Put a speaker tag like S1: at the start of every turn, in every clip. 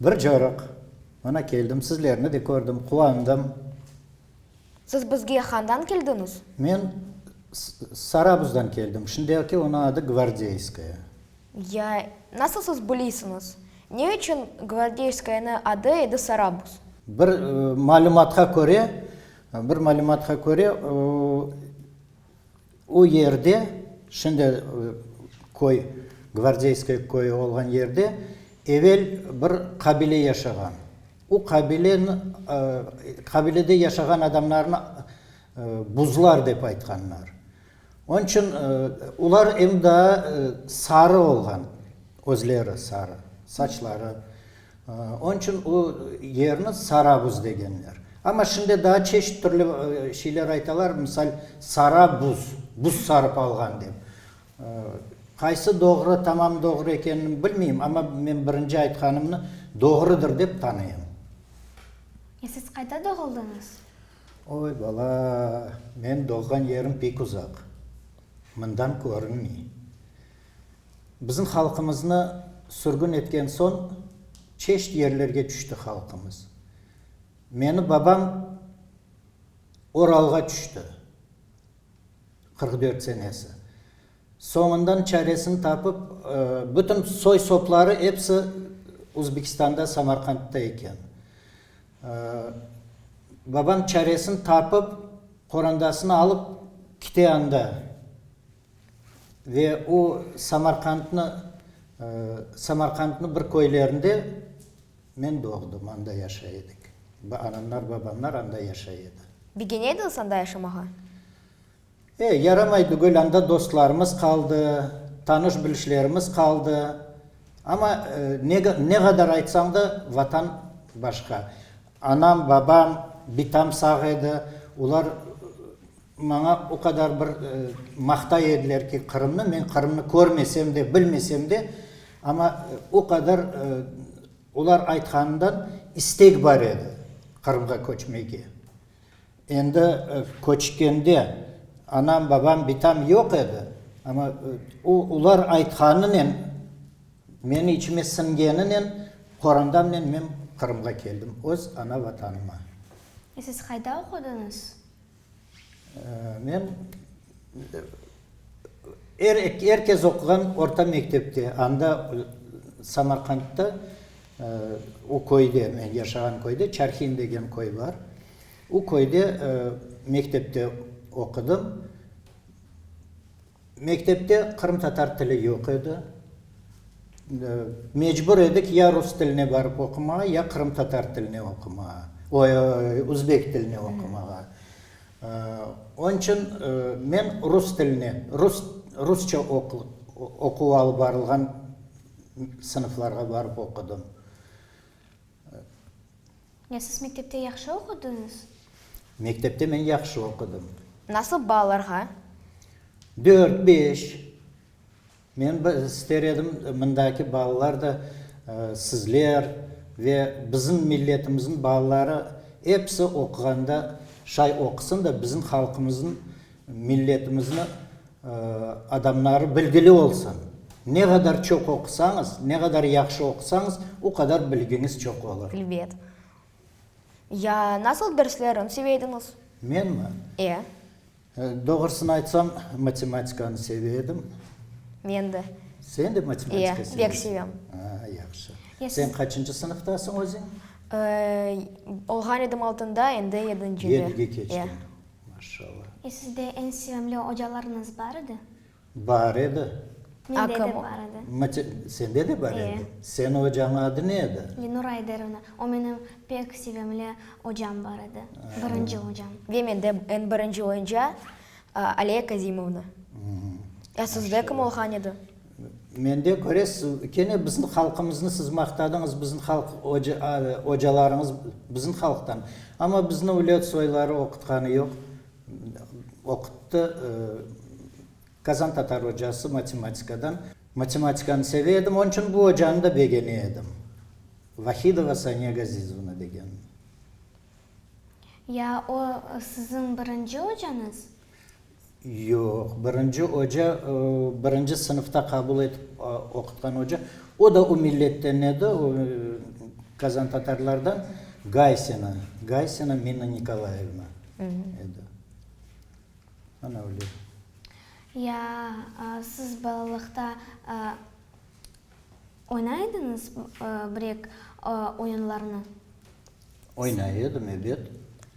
S1: Bir corıq,
S2: mana keldim, sizlerni de kördim, quvandım.
S1: Siz bizge handan keldiñiz? Men
S2: Sarabuzdan keldim, şimdiki onı adı Gvardeyskaya. Ya,
S1: nasıl siz bilisiñiz, ne içün Gvardeyskayanı adı edi Sarabuz? Bir
S2: malümatqa köre, bir malümatqa köre, o, O yerde, şimdi köy, Gvardeyskoye köyü olğan yerde evel bir qabile yaşağan. O qabile, qabilede yaşağan adamlarnı buzlar dep aytqanlar. Onıñ içün olar em daa sarı olğan, özleri sarı, saçları. Onıñ içün o yerni Sarabuz degenler. Amma şimdi daa çeşit türlü şeyler aytalar, misal, sara buz, buz sarıp alğan dep. Qaysı doğru, tamam doğru ekenini bilmeyim, amma men birinci aytqanımnı doğrudır dep tanıyım.
S3: E siz qayda doğuldıñız? Oy,
S2: bala, men doğğan yerim pek uzaq, mından körünmey. Bizim halqımıznı sürgün etken soñ çeşit yerlerge tüşti halqımız. Meni babam Oralğa tüşti, qırq dört senesi. Soñundan çaresini tapıp, bütün soy-sopları episi Uzbekistanda, Samarqandta eken. Babam çaresini tapıp, qorandasını alıp kite anda, Ve o, Samarqandnı, Samarqandnı bir köylerinde, men doğdım, anda yaşay edik. Anamlar, babamlar anda yaşay edi. Bigene ediñiz
S1: anda yaşamağa? E, yaramay
S2: tügül, anda dostlarımız qaldı, tanış-bilişlerimiz qaldı. Amma ne, ne qadar aytsañ da, Vatan başqa. Anam, babam bitam sağ edi. Olar maña o qadar bir maqtay ediler ki, Qırımnı, men Qırımnı körmesem de, bilmesem de, amma o qadar olar aytqanından istek bar edi Qırımğa köçmege. Endi köçkende anam, babam bitam yoq edi, amma olar aytqanınen Meni içime siñgeninen qorandamnen men Qırımğa keldim, öz ana Vatanıma. E, siz
S3: qayda oqudıñız?
S2: Men er er kez oquğan orta mektepte, anda Samarqandta, u köyde, men yaşağan köyde, Çarhin degen köy bar, u köyde mektepte oqudım. Mektepte qırımtatar tili yoq edi. Mecbur edik ya rus tiline barıp oqumağa, ya qırımtatar tiline oqumağa, oy, uzbek tiline oqumağa. Onıñ içün men rus tiline, rus, rusça oquv, oquv alıp barılğan sınıflarğa barıp oqudım.
S3: Ya siz mektepte yahşı oqudıñız? Mektepte
S2: men yahşı oqudım. Nasıl baallarğa?
S1: Dört, beş.
S2: Men bir ister edim, mındaki baalar da sizler ve bizim milletimizniñ baaları episi oquğanda şay oqusın da bizim halqımızın Milletimizni adamları bilgili olsun. Ne qadar çoq oqusañız, ne qadar yahşı oqusañız, o qadar bilgiñiz çoq olur. Elbet.
S1: Ya nasıl derslerin seve ediñiz? Menmi?
S2: E. Doğrusını aytsam, matematikanı seve edim. Men de.
S1: Sen de matematika seve
S2: ediñ? E, pek sevem. Aa,
S1: yahşı.
S2: Sen qaçıncı sınıftasıñ özüñ?
S1: Olğan edim altıñda, endi yedincide. Yediñge keçtiñ. E.
S2: Maşşalla. E sizde eñ
S3: sevimli ocalarıñız bar edi? Bar edi.
S2: Mende de
S3: bar edi. Mate, sende de bar
S2: edi? E. Seni ocañıñ adı ne edi? Lenur Ayderovna.
S3: O menim pek sevimli ocam bar edi. Birinci ocam. Ve mende eñ
S1: birinci oyunca Aliye Kazimovna. Ya sizde kim olğan edi? Mende
S2: köre, siz kene bizim halqımıznı siz maqtadıñız, bizim halq ocalarıñız bizim halqtan. Amma bizni ülüet soyları oqutqanı yoq. Oquttı Kazan tatar ocası matematikadan. Matematikanı seve edim, onıñ içün bu ocanı da begene edim. Vahidova Saniya Gazizovna degen.
S3: Ya o siziñ birinci ocañız?
S2: Yoq, birinci oca, birinci sınıfta qabul etip oqutqan oca, o da o milletten edi, o kazantatarlardan, Gaysina, Gaysina Mina Nikolayevna edi. Ana öyle. Ya
S3: siz balalıqta oynay ediñiz brek oyunlarını?
S2: Oynay edim, ebet.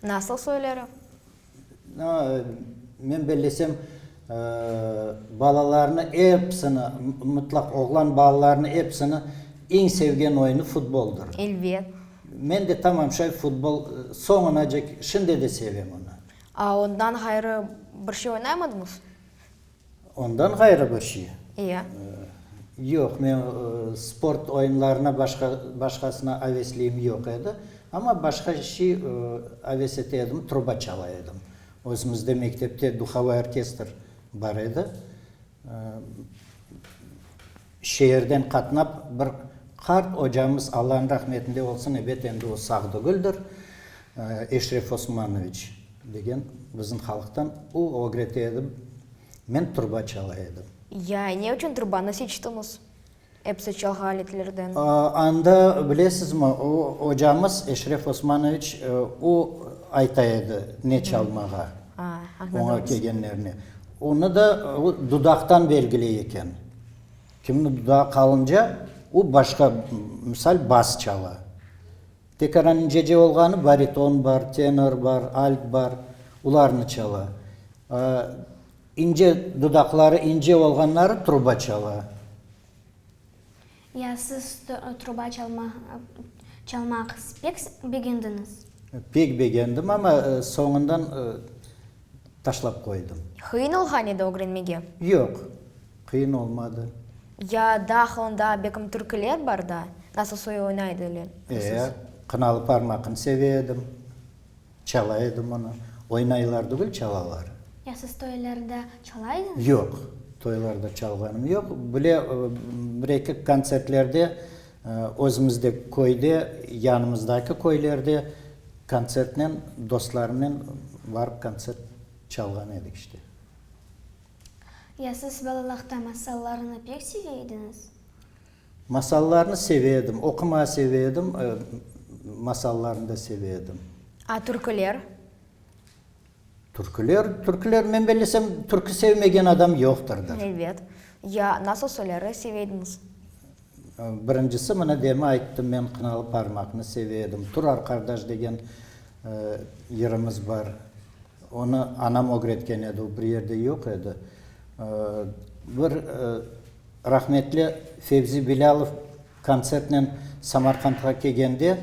S2: Nasıl
S1: soyları?
S2: Men bellesem, balalarnı episini, mıtlaq oğlan balalarnı episini eñ sevgen oyunı futboldır. Elbet.
S1: Men de tamam
S2: şay futbol soñunacek şimdi de sevem onı. Ondan ğayrı
S1: bir şey oynaymadınız?
S2: Ondan ğayrı bir şey? İya.
S1: Yoq,
S2: men sport oyunlarına başqa, başqasına avesliyim yoq edi. Amma başqa şey aves ete edim, truba çala edim. Özümizde mektepte duhovoi orkestr bar edi. Şeerden qatnap bir qart ocamız, Allanıñ rahmetinde olsun, ebet endi o sağ degildir, Eşref Osmanoviç degen bizim halıqtan, o ögrete edi, men turba çala edim. Ya, ne içün
S1: turbanı seçtiñiz? Episi çalğı aletlerden. Anda,
S2: bilesizmi, o ocamız, Eşref Osmanoviç, o ayta edi ne çalmağa oña kelgenlerine. Onı da dudaqtan belgiley eken. Kimni dudağı qalınca, o başqa, misal, bas çala. Tek aran incece olğanı, bariton bar, tenor bar, alt bar, olarnı çala. İnce, dudaqları ince olğanları truba çala. Ya
S3: siz truba çalma, çalmaq pek begendiñiz? Pek
S2: begendim, amma soñundan, taşlap qoydım. Qıyın olğan edi
S1: ögrenmege? Yoq,
S2: qıyın olmadı. Ya
S1: dahılında bekim türkiler bar da, nasıl soy oyna ediler? Ee, qınalı
S2: parmaqını seve edim, çala edim onı. Oynaylar degil, çalalar. Ya siz toylarda
S3: çalaydınız? Yoq,
S2: toylarda çalğanım yoq. Bile, bir-eki kontsertlerde. Özümizde köyde, yanımızdaki köylerde kontsertnen, dostlarımnen barıp kontsert çalğan edik işte.
S3: Ya siz balalaqta masallarını pek seve ediñiz?
S2: Masallarnı seve edim, oqumağı seve edim, masallarnı da seve edim. A türküler? Türküler, türküler, men bellesem, türkü sevmegen adam yoqtırdır. Ebet.
S1: Ya nasıl soyları seve ediñiz?
S2: Birincisi, mına demin ayttım, men Qınalı Parmaqnı seve edim. Turar qardaş degen yırımız bar. Onı anam ögretken edi, o bir yerde yoq edi. Bir rahmetli Fevzi Bilâlov Kontsertnen Samarqandğa kelgende,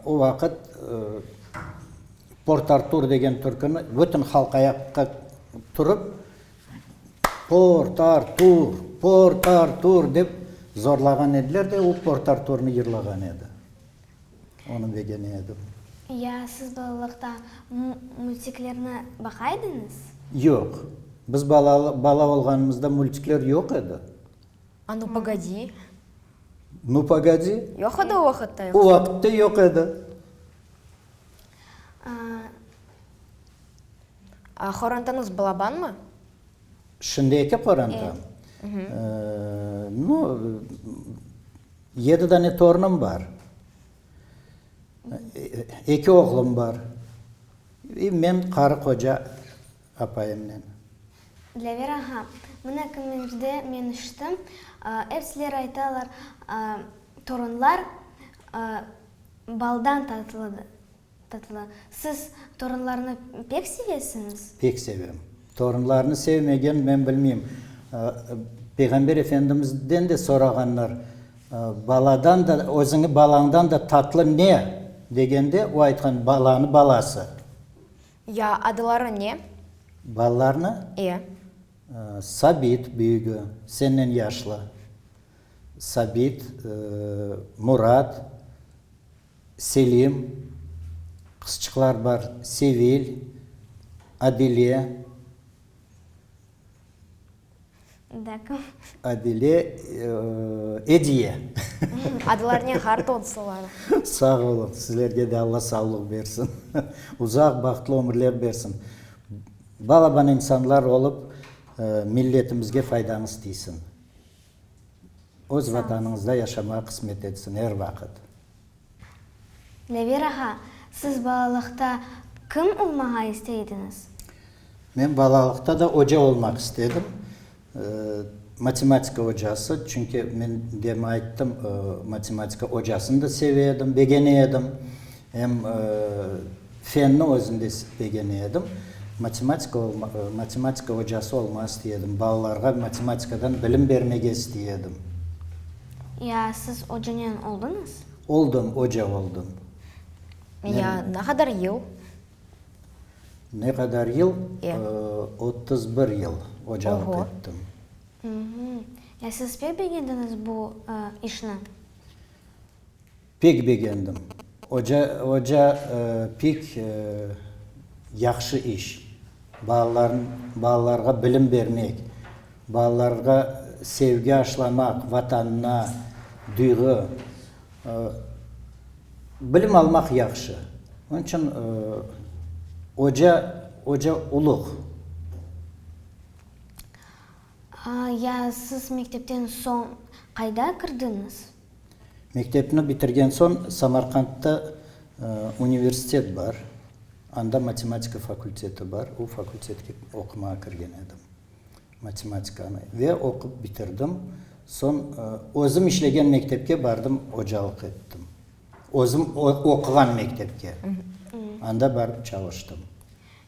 S2: o vaqıt Port Artur degen türküni bütün halq ayaqqa turıp, Port Artur, Port Artur dep zorlağan ediler de, o Port Arturnı yırlağan edi. Onı begene edim. Ya siz
S3: balalıqta multiklerni baqa ediñiz? Yoq.
S2: Biz bala olğanımızda multikler yoq edi. A nu
S1: pogodi?
S2: Nu pogodi? Yoq edi o vaqıtta.
S1: O vaqıtta yoq
S2: edi.
S1: A qorantanıñ balabanmı? Şimdiki
S2: qorantam? Nu, yedi dane torunım bar. Eki oğlum bar. Men qarı qoca. apayımnen.
S3: Dilever aha, mına kimlerde men içtim, epsileri aytalar, Torunlar baldan tatlı. Siz torunlarnı pek sevesiñiz? Pek sevem.
S2: Torunlarnı sevmegen, men bilmeyim. Peyğamber efendimizden de sorağanlar, Baladan da, özüñi balañdan da tatlı ne? degende, o aytqan, Balanı balası. Ya
S1: adıları ne? Balalarnı?
S2: İe. Sabit, büyügi, sennen yaşlı. Sabit, Murat, Selim, qızçıqlar bar, Sevil, Adile.
S3: Dâkım. Adile,
S2: Ediye.
S1: Adılar ne ğar tonsılar. Sağ olun,
S2: sizlerge de Alla savlıq bersin, uzaq bahtlı ömürler bersin. Balaban insanlar olıp, milletimizge faydañız tiysin. Öz Vatanıñızda yaşamağa qısmet etsin er vaqıt. Nevir
S3: ağa, siz balalıqta kim olmağa isteydiñiz? Men
S2: balalıqta da oca olmaq istedim, matematika ocası, çünki men dem ayttım, matematika ocasını da seve edim, begene edim. Em Fenni özüm de istegene edim. Matematika matematika ocası olma istey edim. Balalarğa matematikadan bilim bermege istey edim.
S3: Ya siz ocanen oldıñız? Oldım, oca
S2: oldım. Ya
S1: ne qadar yıl?
S2: Ne qadar yıl? Ya.
S1: Otuz
S2: bir yıl ocalıq ettim.
S3: Ya siz pek begendiñiz bu işni?
S2: Pek begendim. Oca, oca pek yahşı iş. Balalarnı, balalarğa bilim bermek, balalarğa sevgi aşlamaq Vatanına, duyğı. Bilim almaq yahşı. Onıñ içün oca, oca uluq.
S3: Ya siz mektepten soñ qayda kirdiñiz? Mektepni
S2: bitirgen soñ Samarqandta universitet bar, anda matematika fakulteti bar, o fakultetke oqumağa kirgen edim, matematikanı, ve oqup bitirdim. Soñ özüm işlegen mektepke bardım, ocalıq ettim. Özüm oquğan mektepke, anda barıp çalıştım.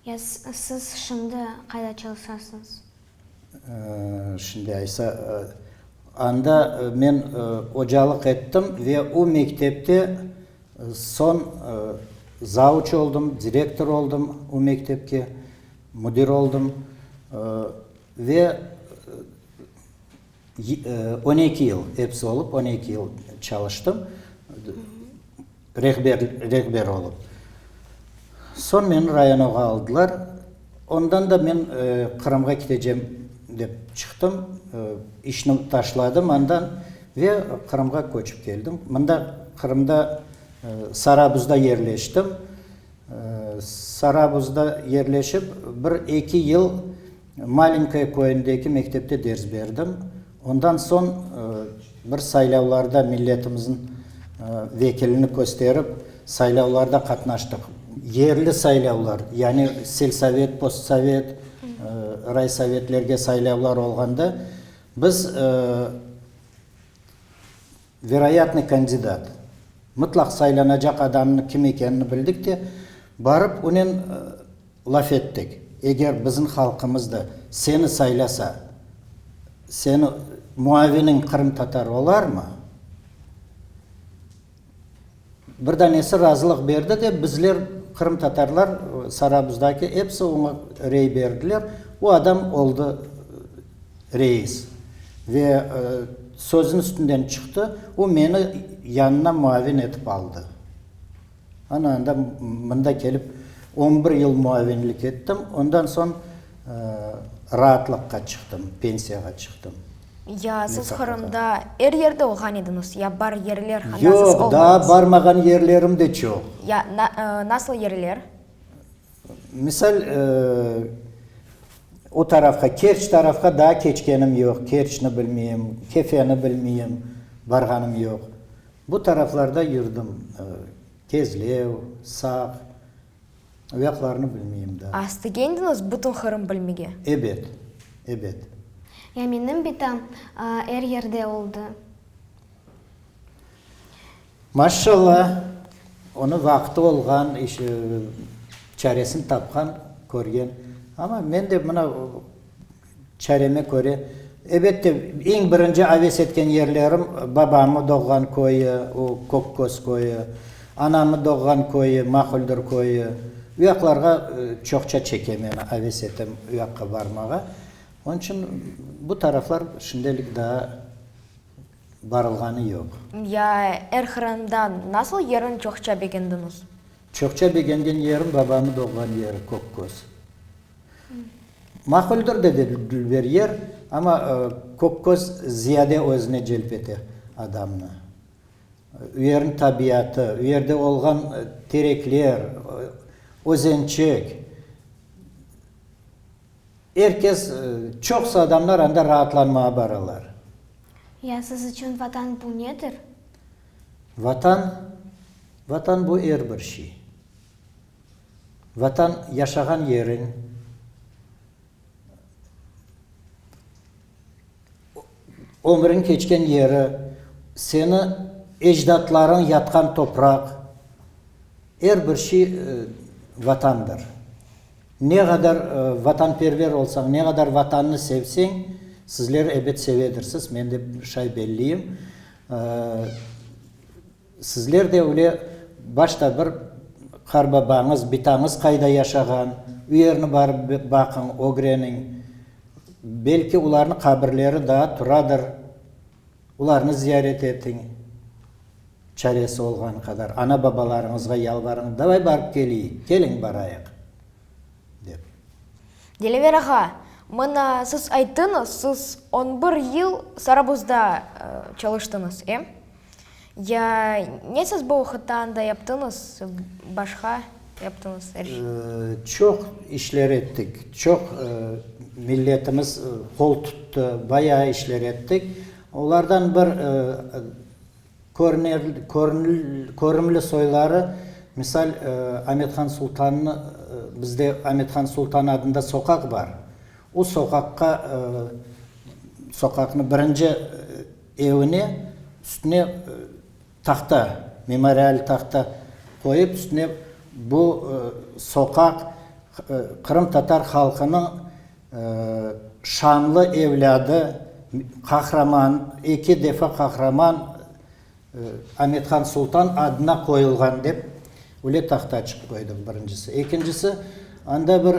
S2: Ya
S3: siz şimdi qayda çalışasıñız?
S2: Şimdi aysa, anda men ocalıq ettim ve o mektepte soñ zavuç oldım, direktor oldım o mektepke, müdir oldım. Ve On eki yıl, episi olıp on eki yıl çalıştım rehber olıp. Soñ meni rayonağa aldılar. Ondan da men Qırımğa keteceğim dep çıqtım. İşni taşladım anda ve Qırımğa köçip keldim. Mında Qırımda Sarabuzda yerleştim. Sarabuzda yerleşip bir eki yıl Malinkaya köyündeki mektepte ders berdim. Ondan soñ bir saylavlarda milletimiziñ vekilini kösterip, saylavlarda qatnaştıq. Yerli saylavlar, yani selsovet, postsovet, raysovetlerge saylavlar olğanda biz. Veroyatnıy kandidat. Mıtlaq saylanacaq adamnıñ kim ekenini bildik de, barıp onen laf ettik, eger bizim halqımız da seni saylasa, seni muaviniñ qırımtatar olarmı? Bir danesi razılıq berdi de, bizler, qırımtatarlar, Sarabızdaki episi oña rey berdiler. O adam oldı reis. Ve sözün üstünden çıqtı. O meni yanına muavin etip aldı. Ana anda mında kelip on bir yıl muavinlik ettim. Ondan soñ raatlıqqa çıqtım, pensiyağa çıqtım. Ya siz
S1: Qırımda er yerde olğan ediñiz, ya bar yerler haqqında siz oldunız? Yoq, daa barmağan
S2: yerlerim de çoq. Ya
S1: nasıl yerler?
S2: Misal, o tarafqa, Kerç tarafqa daa keçkenim yoq, Kerçni bilmeyim, Kefeni bilmeyim, barğanım yoq. Bu taraflarda yurdım, Kezlev, Saq. Ayaqlarını bilmeyim da. A istegendiñiz bütün
S1: Qırım bilmege? Ebet,
S2: ebet. Ya
S3: menim bitam er yerde oldı.
S2: Maşşalla, onı vaqtı olğan, çaresini tapqan, körgen. Amma men de mına. Çareme köre, ebette, eñ birinci aves etken yerlerim, babamı doğğan köyü, o Kökköz köyü, anamı doğğan köyü, Maquldur köyü. Uyaqlarğa çoqça çeke meni, aves etem uyaqqa barmağa. Onıñ içün bu taraflar şimdelik daa barılğanı yoq. Ya er
S1: qırından nasıl yerin çoqça begendiñiz? Çoqça
S2: begengen yerim, babamı doğğan yeri, Kökköz. Maquldir, dedi dülber yer, amma kök köz ziyade özüne celp ete adamnı. U yerniñ tabiatı, u yerde olğan terekler, özençek, er kes, çoqusı adamlar anda raatlanmağa baralar. Ya
S3: siz içün Vatan bu nedir? Vatan,
S2: Vatan bu er bir şey. Vatan, yaşağan yeriñ, ömrüñ keçken yeri, seni ecdatlarıñ yatqan topraq, er bir şey Vatandır. Ne qadar vatanperver olsañ, ne qadar Vatannı sevseñ, sizler ebet sevedirsiz, men de şay belliyim. Sizler de öyle başta bir qarbabañız, bitañız qayda yaşağan, o yerni barıp baqıñ, ögreniñ. Belki olarnı qabirleri daa turadır, olarnı ziyaret etiñ. Çaresi olğanı qadar ana-babalarıñızğa yalvarıñ, davay barıp keleyik, keliñ barayıq, dep.
S1: Dilever ağa, mına siz ayttıñız, siz on bir yıl Sarabuzda çalıştıñız, em? Ya ne siz bu oqıtta anda yaptıñız, başqa yaptıñız er şey? Çoq
S2: işler ettik, çoq milletimiz qol tuttı, bayağı işler ettik. Olardan bir körünli soyları, misal, Amethan Sultannı, bizde Amethan Sultan adında soqaq bar. O soqaqqa, soqaqnı birinci Evine üstüne tahta, memorial tahta qoyıp, üstüne bu soqaq qırımtatar halqınıñ şanlı evlâdı, qahraman, eki defa qahraman Amethan Sultan adına qoyulğan dep öyle tahta açıp qoydıq, birincisi. Ekincisi, anda bir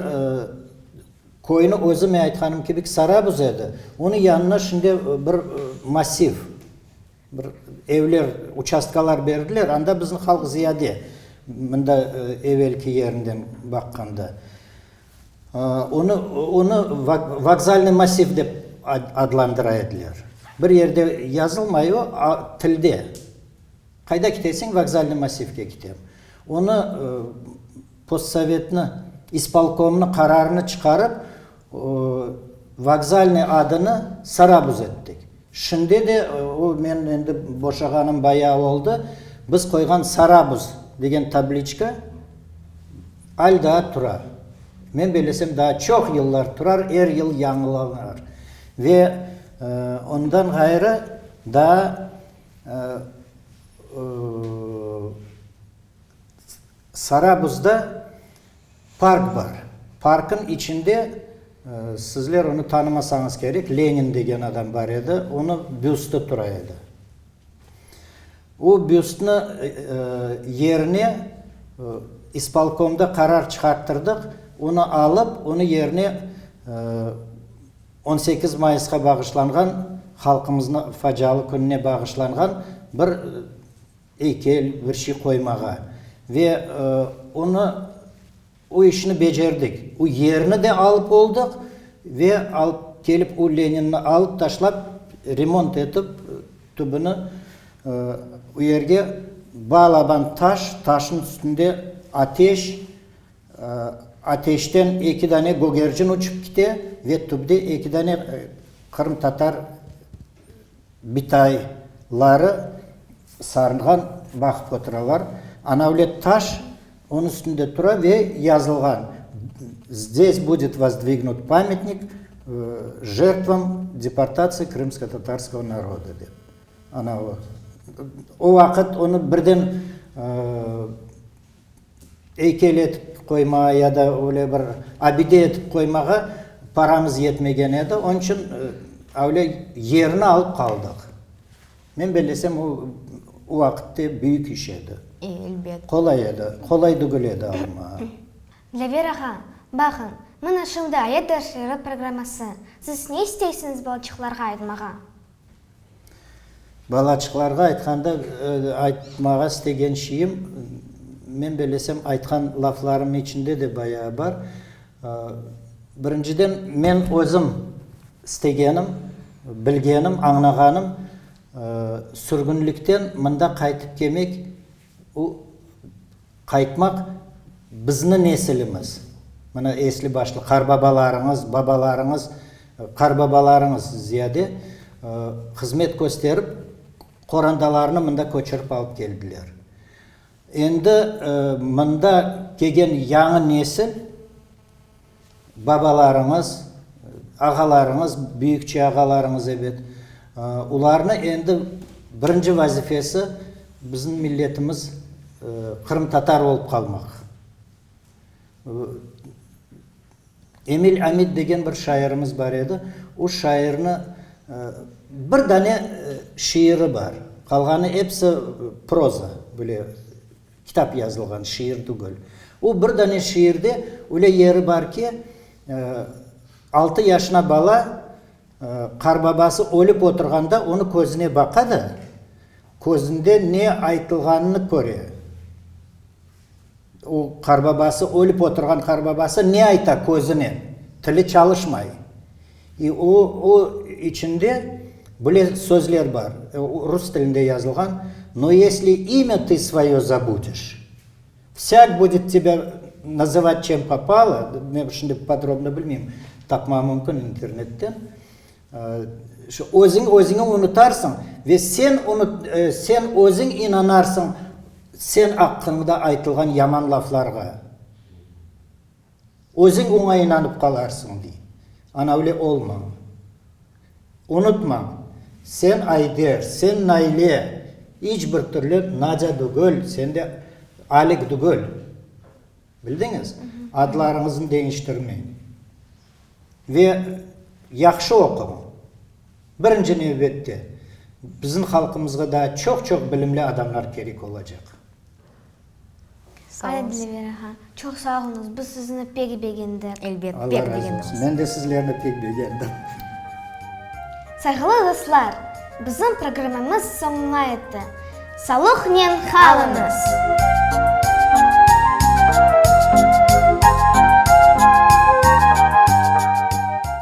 S2: Köyni özüme aytqanım kibik Sarabuz edi, onı yanına şimdi bir massiv, bir evler, uçastkalar berdiler, anda bizni halq ziyade, mında evelki yerinden baqqanda. Onı, onı vokzalnıy massiv dep adlandıra ediler. Bir yerde yazılmay o, a, tilde. Qayda kiteseń? Vokzalnıy massivge kitem. Onı postsovetni ispolkomnı qararını çıqarıp, vokzalnıy adını Sarabuz ettik. Şimdi de o, men endi boşağanım bayağı oldı, biz qoyğan Sarabuz degen tabliçka al daa tura. Men beylesem daa çoq yıllar turar, er yıl yañılanar. Ve ondan ğayrı daa. Sarabuzda park bar. Parknıñ içinde, sizler onı tanımasañız kerek, Lenin degen adam bar edi, onı büstı tura edi. O büstni yerine ispolkomda qarar çıqarttırdıq, onı alıp, onı yerine On sekiz mayısqa bağışlanğan, halqımıznı facialı kününe bağışlanğan bir eykel, bir şey qoymağa. Ve onı, o işni becerdik. O yerni de alıp oldıq ve alıp kelip o Leninni alıp taşlap, remont etip, tübüni o yerge balaban taş, taşnıñ üstünde ateş, Ateşten eki dane gögercin uçıp kite ve tübde eki dane qırımtatar bitayları sarılğan baqıp oturalar. Anavlet taş onıñ üstünde tura ve yazılğan, Zdes budet vozdvignut pametnik žertvam deportatsıya krımsko-tatarskovo naroda, dep. Ana o. O vaqıt onı birden Eykel etip qoyma ya da öyle bir abide etip qoymağa paramız yetmegen edi, onıñ içün öyle yerini alıp qaldıq. Men bellesem, o o vaqıtte büyük iş edi. Elbet. Qolay
S1: edi,
S2: qolay degil edi almağa. Dilever
S3: ağa, baqıñ, mına şimdi ayet dersleri programması. Siz ne isteysiñiz balçıqlarğa aytmağa?
S2: Balaçıqlarğa aytqanda, aytmağa istegen şeyim, men belesem aytqan laflarım içinde de bayağı bar. Birinciden, men özüm istegenim, bilgenim, añlağanım, sürgünlikten mında qaytıp kelmek O, Qaytmaq bizni nesilimiz, mına esli başlı qarbabalarıñız, babalarıñız, qarbabalarıñız ziyade hızmet kösterip, qorandalarını mında köçürip alıp keldiler. Endi mında kegen yañı nesil, Babalarıñız, ağalarıñız, büyükçe ağalarıñız ebet. Olarnı endi birinci vazifesi bizim milletimiz qırımtatar olıp qalmaq. Emil Amid degen bir şairimiz bar edi. O şairni bir dane şiiri bar. Qalğanı episi proza, böyle. Kitap yazılğan, şiir tügel. O bir dane şiirde öyle yeri bar ki, altı yaşına bala qarbabası ölip oturğanda onı közüne baqa da, közünde ne aytılğanını köre. O qarbabası, ölip oturğan qarbabası ne ayta közüne, tili çalışmay. E, o, o içinde bile sözler bar, e, o rus tilinde yazılğan, No yesli imya tı svoye zabudiş, vsâk budet tebâ nazavat çem popalo, men şimdi podrobno bilmeyim, tapmam mümkün internetten, e, şu özüñ, özüñi unutarsıñ ve sen unut, e, sen özüñ inanarsıñ sen aqqıñda aytılğan yaman laflarğa. Özüñ oña inanıp qalarsıñ, dey. Anavle olmañ. Unutmañ, sen Ayder, sen Naile, iç bir türlü Nadya dugül, sen de Alik dugül. Bildiñiz? Adlarıñıznı deñiştirmeñ. Ve yahşı oquñ. Birinci nevbette, bizim halqımızğa daa çoq-çoq bilimli adamlar kerek olacaq. Sağ
S3: olunız. Çoq sağ olunız, biz sizni pek begendik. Elbet, pek begendiñiz. Allah razı
S1: olsun, men de
S2: sizlerni
S1: pek
S2: begendim. Sayğılı
S3: dostlar, bizim programmamız soñuna yetti. Salıqnen qalıñız!